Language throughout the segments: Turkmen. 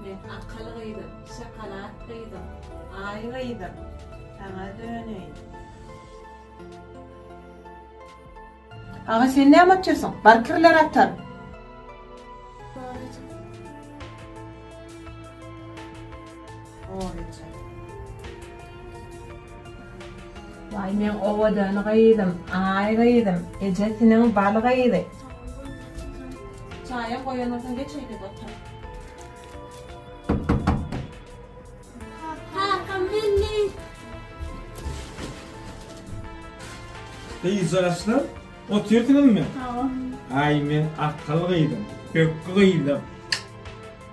Men akylly gyzym, şokolad gyzym. Aý gyzym, saňa döneýin. Aga sen näme atýarsyň? Bar kirleri atar. Goryja. Waý meň owadan gyzym, aý gyzym, ejesiniň bal gyzy. Çaýam goýanoksan geç öýde otur. Kaka milli. Gyz yaşlı, otyrdynmy? Aý men akylly gyzym, pökgi gyzym.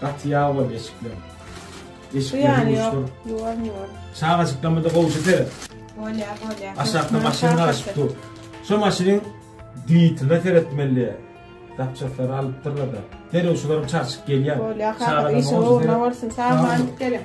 Gaty ýag boldy eşikler. Eşikler ýuwuşdyr. Ýuwar ýuwar. Çagajyklamada gowşa seret. Bolýa bolýa. Aşakda maşyn garaşyp dur. Şu maşynyň dwitine seretmeli. Zapçaslary alypdyrlar da. Derrew şularym çarçyk gelýär. Bolýa kakam işiň ugruna bolsun. Sag boluň geliň.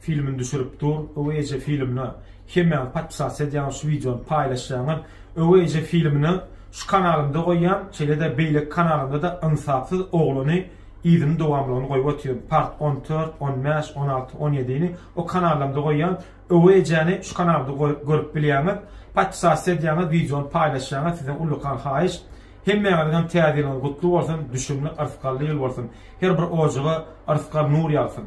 Filmini düşürip dur öwey eje filmine hemmäňiz podpisatsa edýäňiz şu wideony paýlaşýaňyz öwey eje filmini şu kanalymda goýýan şeýlede beýleki kanalymda da ynsapsyz oglany yzyny dowamlygyny goýup otyryn part on dört on bäş on alty on ýedini o kanallamda goýýan öwey ejäni şu kanalda görüp bilýäňiz podpisatsa edýäňiz wideony paýlaşýaňyz sizden ullakan haýyş hemmäňiziňem täze ýylyňyz gutly bolsun düşümli yrsgally ýyl bolsun her bir ojaga yrsgal nur ýagsyn.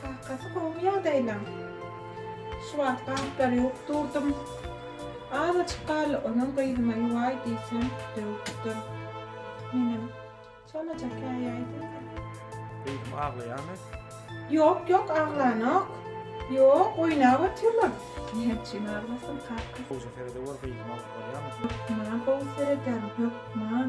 Kakasy gowy ýagdaýlaň. Şu wagt gaplary ýuwup durdum. Azajyk galdy onam gyzyma ýuwaý diýsem döwüp dur. Menem çalaja käýäý diýdim. Gyzym aglaýamy? Ýok ýok aglanok. Ýok oýnap otyrlar. Näme üçin aglasyn kakasy. Gowja seredewor gyzyma bolýamy? Hökman gowy serederin hökman.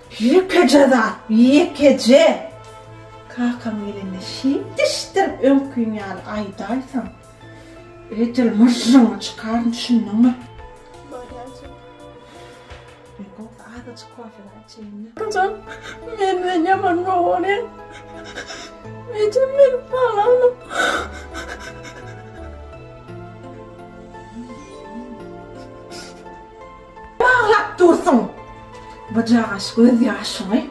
Ýekeje zat, ýekeje! Kakam gelende şiňkişdirip öňkiň ýaly aýdaýsaň, edil myžžyňy çykaryn, düşündiňmi? Barýançam. Meň gowy, azajyk kofemi içeýin-le. Kakam menden ýaman gowaryň. Ejem meniň halanym. Baglap dursuň! Bujagaş göz ýaşyňy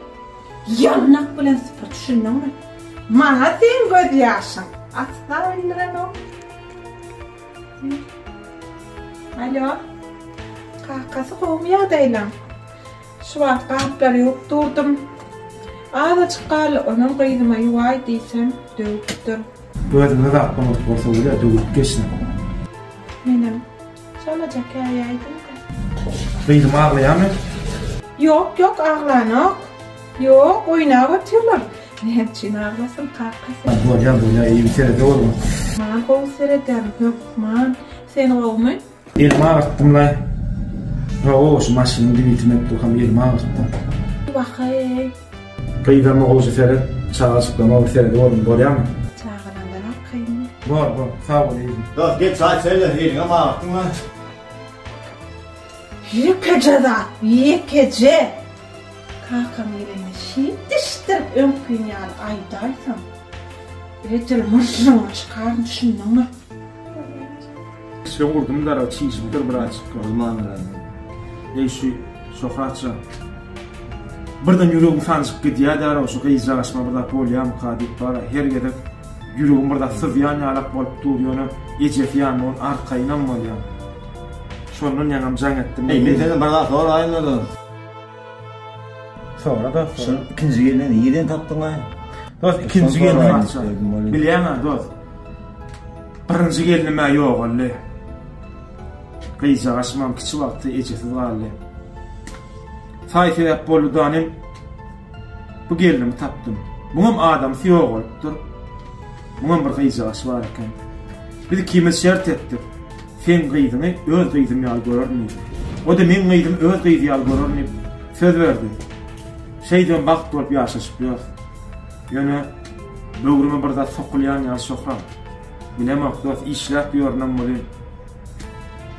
ýylnak bilen süpür, düşündiňmi? Maňa seň göz ýaşyň asla bildirenok. Alo. Kakasy gowmy ýagdaýlaň? Şu wagt gaplary ýuwup durdum. Azajyk galy onam gyzyma ýuwaý diýsem, döwüpdir. Gözüňe zat bolmadyk bolsa bolýar, döwülip geçsin. Menem Çalaja käýäýdim-ka. Gyzym aglaýamy? Ýok, ýok, aglanok. Ýok, oýnap otyrlar. Näme üçin aglasyn, kakasy? Bolýar, bolýar, eý, serede bolgun. Maňa gowy seredýärin, hökman. Sen gowumy? Elimi agyrtdym-laý. Ho-o, şu maşynyň dibitini öpdükam elimi agyrtdym. Wah-eý! Gyzama gowja seret çagaçyklama bir seredi görgin bolýamy. Çagalardan al kyn. Bor bor sag bol yzym. Dos gel çaý içerler eliňe magyrtdyňmy. Ýekeje zat ýekeje. Kakam gelende şeýt dişdirip öňküň ýaly aýdaýsaň. Edil myrryňy çykaryn düşündiňmi. Kiçilik urdum dara çişipdir birazjyk gyzman bilen. Eý şu Şöhratja. Birden ýüregim sanjyp gidýär däraw şu gyzjagaş aşma bir zat bolýamyka diýip bara her gezek ýüregim bir zat syzýan ýalak bolup dur ýöne ejesi ýanynda ol arkaýynam bolýar. Şondan ýaňam jaň etdim. Eý men senden bir zat soraýyn özüm. Soňra da şuny ikinji gelende nireden tapdyňa? Dost ikinji gelende açja. Bilýäňä dost. Birinji gelende mä ýogaldy. Gyzjagaş mam kiçi wagty ejesiz galdy. Saý sebäp boldy danym. Bu gelini tapdym. Muňam adamsy ýok bolupdyr. Muňam bir gyzjagaş bar eken. Biz ikimiz şert etdik. Seň gyzyňy öz gyzym ýaly görerin diýdi. O-da meň gyzym öz gyzy ýaly görerin diýip söz berdi. Şeýdibem bagt bolup ýaşaşyp ýörüs. Ýöne böwrüme bir zat sokulýan ýaly Şöhram. Bilemok dost, işläp ýörünem welin,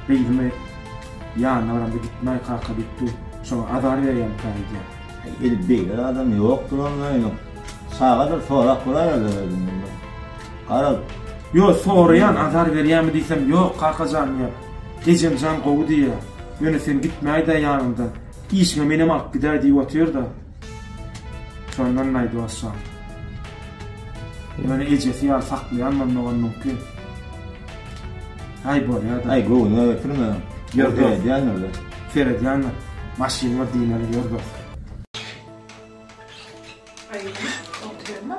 gyzymy ýanyna baramda gitmäý kaka diýip dur. Şoňa azar berýän kä öýdýän. Edil beýle zadam ýokdur onda ýöne çagadyr sorap göräýerler özünden bir. Garaz, ýo, soraýan, azar berýämi diýsem, ýok, kaka jan diýýär. Ejem jan gowy diýýär. Ýöne sen gitmäý-dä ýanymdan. Işiňe menem alyp gidäý diýip otyr-da. Şondan naýdy başlan. Ýöne ejesi ýaly saklaýan bolmagam mümkin. Aý, bolýa-da. Aý, göwnüňe getirme. Ýör, seredýändir-le. Seredýändir. Maşyn bar diýmeli, ýör dos. Aý, oturma.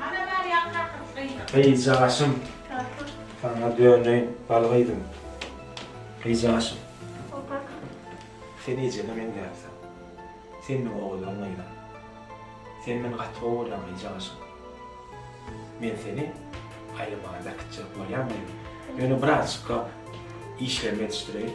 Ana Merýem kakam gyzym. Gyzjagaşym. Kakam. Saňa döneýin bal gyzym. Gyzjagaşym. Hol kakam. Sen ejeme meňzäpsiň. Sen meň ogullarym gyzym. Seni men gaty gowy görýän gyzjagaşym. Men seni aýlamaga bäkitjek bolýan gyzym. Ýöne birazjykka işlerimi ýetişdireýin.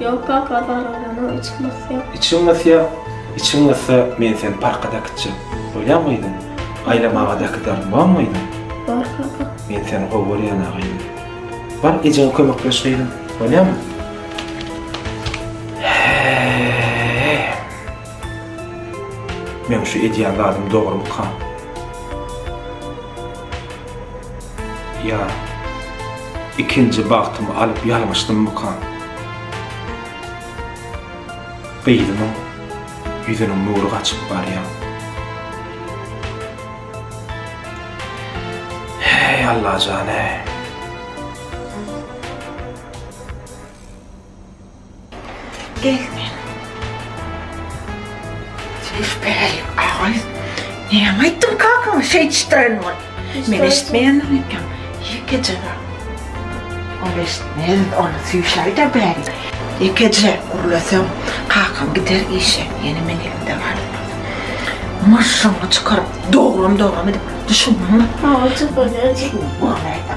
Ýok kaka zararlanam içim gysýar. Içiň gysýa? Içiň gyssa men seni parka dakitjek. Bolýamy gyzym? Aýlamaga dakidarin bormy gyzym? Bor kaka. Men seni gowy görýäna gyzym. Bar ejeňe kömekleş gyzym. Bolýamy? Meň şu edýän zadym dogrumyka? Ýa, ikinji bagtymy alyp ýalňyşdymmyka? Gyzymyň ýüzüniň nury gaçyp barýar. Heý, Allajan-eý! Gelme. Söz berelim ağay. Näme aýtdym kakaňa şeýtişdiren bol. Men eşitmeýändim eken. Ýekeje bar. Ol eşitmeýän, ony süýşäý-de bäri. Ýekeje gürleseň, kakaň gider işe. Ýene men elimde bar. Maşşaňy çykaryp, doglam-doglam edip, düşündiňmi? Hawa, çykarýan. Seni görmäý-de.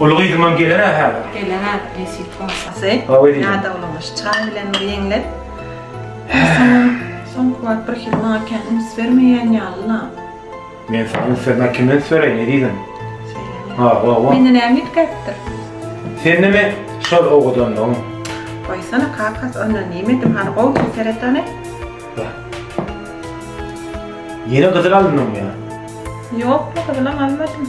Uly gyzymam geler-ä hä? Geler-ä, nesip bolsa. Sy, ýa-da uly gyz çyran bilen bir ýeňlek. Soňky wagt birhili maňa kän üns bermeýän ýaly-la. Men saňa üns bermän kimden üns bereýin, ezizim? Söýleme. Ha, wa, wa. Mende näme üýtgäpdir? Sende men şol owadanlygyň. Goýsana, kakas, onda näme edim, hany gowy seret hany. Ýene gyzyl alyndyňmy ýa? Ýok, gyzylam almadym.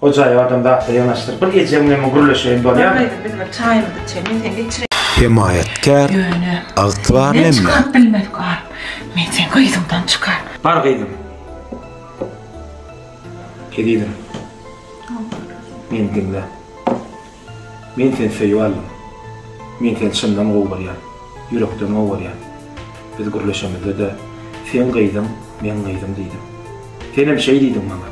O jaý adam zatla yanaşdyr. Bir ejeň bilen gürleşeýin bolýar. Gaýdyp biz bir çaýymyzy içeýin. Sen içre. Hemaýatkär, ygtybarly emme. Çykaryp bilmedik alyp. Men sen gyzyňdan çykar. Bar gyzym. Ezizim. Meni diňle. Men seni söýüp aldym. Men seni çyndan gowy görýän. Ýürekden gowy görýän. Biz gürleşemizde-de sen gyzym, men gyzym diýdim. Senem şeý diýdiň maňa.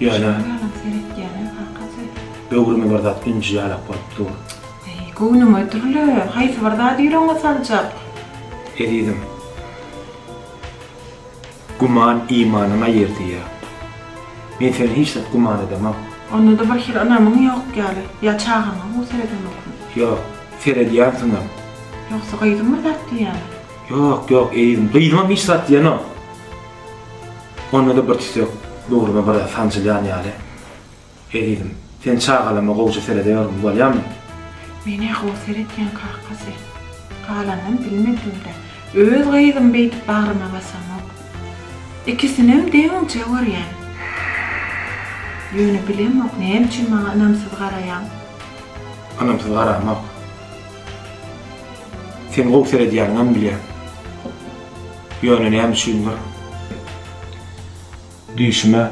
Ýöne. Ýaňak seretýänem hakyt söz. Böwrüme bir zat ünji ýalak bolup dur. Eý, göwnüňe dürle, haýsy bir zady ýüregiňe saljak. Ezizim. Güman imanyň aýyrdyýar. Men seni hiç zat güman edemok. Onda-da bir hili ynamyň ýok ýaly. Ýa çagaňa gowy seredemokmy? Ýok, seredýänsiňem. Ýogsa gyzyň bir zat diýýämi? Ýok, ýok, ezizim, gyzymam hiç zat diýenok. Onda-da bir tüýsek dogruma biraz sanjylýan ýaly. Ezizim, sen çagalama gowja seredeýormy, bolýamy? Men-ä gowy seredýän kakasy. Galanyny bilmedim-dä. Öz gyzymy beýdip bagryma basamok. Ikisinem deňiňçe görýän. Ýöne bilemok, näme üçin maňa ynamsyz garaýaň? Ynamsyz garamok. Sen gowy seredýäniňem bilýän. Ýöne näme üçindir, düýşüme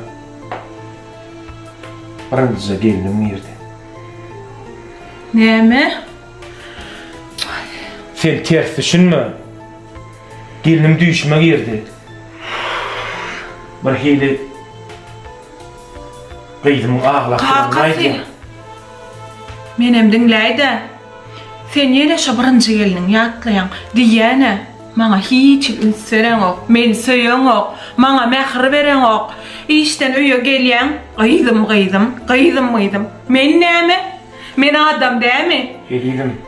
birinjije gelnim girdi. Näme? Sen ters düşünme. Gelnim düýşüme girdi. Bir hili gyzymyň aglakdygyny aýdýar. Menem diňläý-de. Sen ýene şo birinji gelniňi ýatlaýaň. Diýýäne. Maňa hiç üns bereňok, meni söýeňok, maňa mähir bereňok. Işden öýe gelýäň, Gyzym, gyzym, gyzym, gyzym. Men näme? Men adam dämi? Ezizim,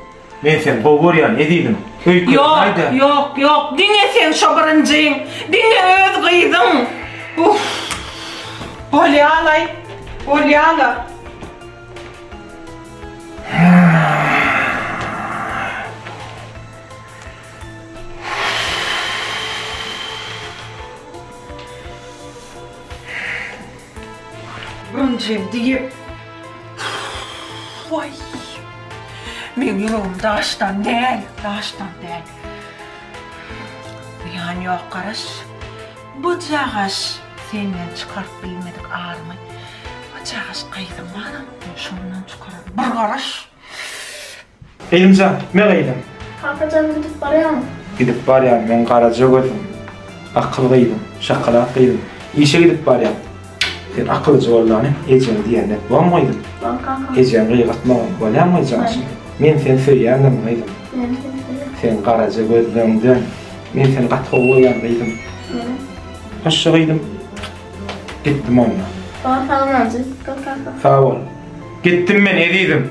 men seni gowy görýän, ezizim. Ýok, ýok, ýok, diňe seň şo birinjiň, diňe öz gyzyň. Uff. Bolýalaý, bolýala. Birinjim diýip. Waý. Meň ýüregim daşdan däl, daşdan däl. Ýan ýok garaş. Bujagaş senden çykaryp bilmedik arymy. Bujagaş gyzyň baram, şondan çykararyn. Bir garaş. Elimjan, gitme gyzym! Kakajan, gidip barýaňmy? Gidip barýan men garaja gözüm. Akyl gyzym, şakalak gyzym. Işe gidip barýan. Sen akylyja bollany, ejeň diýenini et, bomy gyzym? Bor kaka. Ejeň gygyrtmagyn, bolýamy janşym? Men seni söýýändim gyzym. Menem seni söýýän. Seň garaja gözleriňden. Men seni gaty gowy görýän gyzym. Menem. Hoşça gyzym. Gitdim onda. Bor, salamlanjy. Git kaka. Sag bol. Gitdim men ezizim.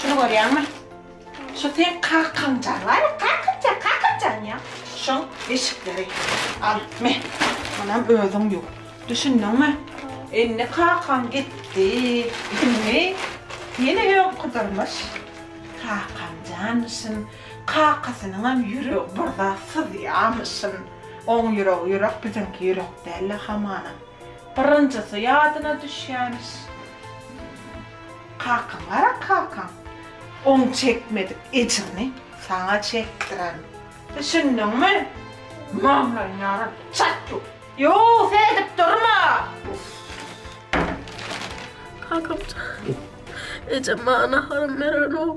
Şuny görýäňmi? Şu seň kakamjaň, bar ya, kakamjaň, kakamjaň ya. Şoň eşikleri. Al, me, munam özüň ýuw. Düşündiňmi? Indi kakaň gitdi. Indi ýene öňküdirmiş. Kakamjanmyşyn, kakasynyňam ýüregi bir zat syzýarmyşyn. Oň ýüregi ýürek, biziňki ýürek däl-le hamana. Birinjisi ýadyna düşýärmiş. Kakaň gara kakaň oň çekmedik ejrini saňa çekdirerin. Düşündiňmi? Maňlaýyny ýaran çat ýuw. Ýuw seredip durma. Kakamjan ejem maňa naharam berenok.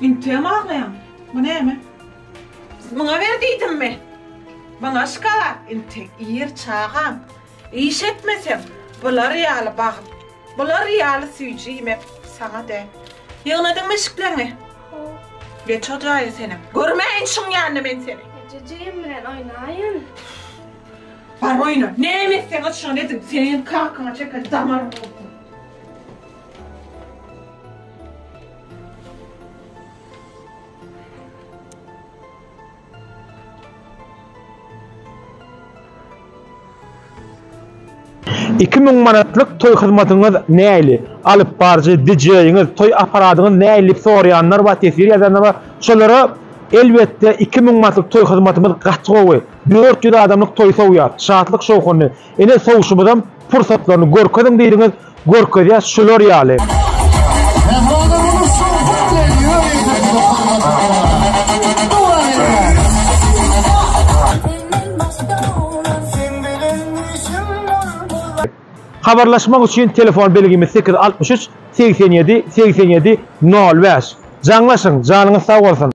Integem aglaýaň. Bu näme? Muňa ber diýdimmi? Muňa şkalat, intek, ir çagam. Iş etmeseň, bular ýaly bagyt, bular ýaly süýji iýmek saňa däl. Ýygnadyňmy eşikleňi? Hop. Geç o jaýa senem. Görmäýin şuň ýanyna men seni. Ejejejem bilen oýnaýyn. Bar oýna. Näme etseňiz şony ediň. Seniň kakyňa çeken damaryň bolsun. Iki müň manatlyk toý hyzmatyňyz näli? Alyp baryjy, DJ-ňiz, toý apparadyňyz näli diýip soraýanlar bar, teswir ýazýanlar bar. Şolara, elbetde, iki müň manatlyk toý hyzmatymyz gaty gowy. Dört ýüz adamlyk toý sowýar. Şatlyk-şowhunly. Ine sowuşymyzam pursatlaryny görkeziň diýdiňiz, görkezýäs şular ýaly. Habarlaşmak üçin telefon belgimiz sekiz altmyş üç segsen ýedi segsen ýedi nol bäş. Jaňlaşyň, janyňyz sag bolsun!